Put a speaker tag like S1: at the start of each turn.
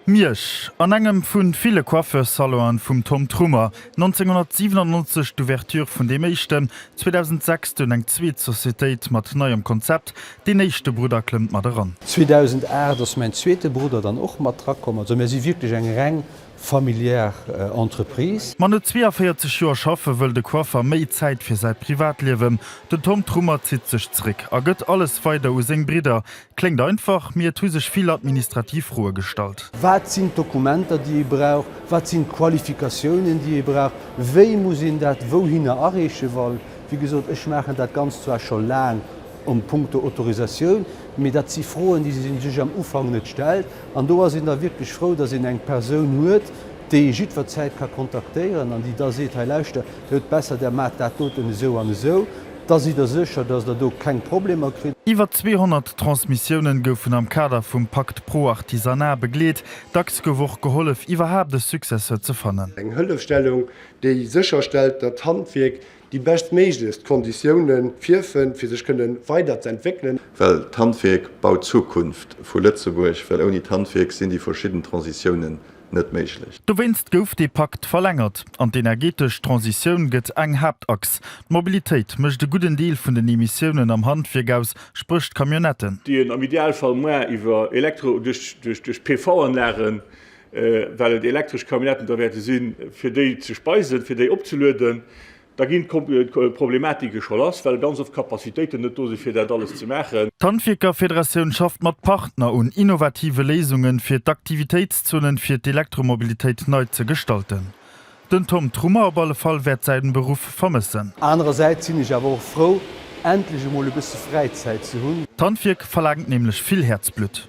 S1: Miersch, an engem vu ville Coiffeurs-Salonen vum Tom Trummer, 1997 d'Ouverture vun deem éischten, 2006 dunn eng zweet Societéit mat neiem Konzept, deen éischte Brudder klëmmt mat eran. 2008 ass
S2: mäin zweete Brudder dann och mat dra komm. Also mir si wierklech eng reng familiär Entreprise. Ma no 42
S1: Joer schaffe wëll de Coiffer méi Zäit fir säi Privatliewen. Den Tom Trummer zitt sech zeréck a gëtt alles weider u seng Bridder, Kléngt einfach, mee et hu sech vill administrativ Froe gestallt. Wat sinn d'Dokumenter,
S2: déi ee brauch? Wat sinn d'Qualifikatiounen, déi ee brauch? Wéi muss een dat wouhinner areeche? Well, wéi gesot, ech maachen dat Ganzt zwar scho laang a punkto Autorisatioun, mee dat si Froen, déi ee sech am Ufank net stellt. An do ass een da wierklech frou, dass een eng Persoun huet, déi ee jiddwerzäit ka kontaktéieren an déi da seet, Hei, lauschter, et huet besser, der maacht dat doten esou an esou. Da sidd Der sécher, dass Der do keng Problemer kritt? Iwwer 200
S1: Transmissiounen goufen am Kader vum Pakt Pro Artisanat begleet. Dacks gouf och gehollef, iwwerhaapt e Successeur ze fannen. Eng Hëllefstellung,
S3: déi sécherstellt, datt d'Handwierk déi beschtméiglechst Konditioune virfënnt, fir sech kënne weiderzentwéckelen. Well d'Handwierk
S4: baut d'Zukunft vu Lëtzebuerg, well ouni d'Handwierk sinn déi verschidden Transitiounen net méiglech. Dowéinst gouf dee
S1: Pakt verlängert. An d'energetesch Transitioun gëtt eng Haaptachs. D'Mobilitéit mécht e gudden Deel vun den Emissiounen am Handwierk aus, spréch d'Camionnetten. déi een am Idealfall
S5: muer iwwer Elektro duerch PV-Anlagen, well et elektresch Camionnetten da wäerte sinn, fir déi ze speisen, fir déi opzelueden. Da ginn d'Problematike scho lass, well ganz oft d'Capacitéiten net do sinn, fir dat alles ze maachen. D'Handwierkerfederatioun
S1: schafft mat Partner un innovative Léisungen, fir d'Aktivitéitszonen fir d'Elektromobilitéit nei ze gestalten. Den Tom Trummer op alle Fall wäert säin Beruff vermëssen. Anerersäits sinn ech
S2: awer och frou, endlech
S1: emol
S2: e bësse Fräizäit ze hunn. D'Handwierk
S1: verlaangt
S2: nämlech vill
S1: Häerzblutt.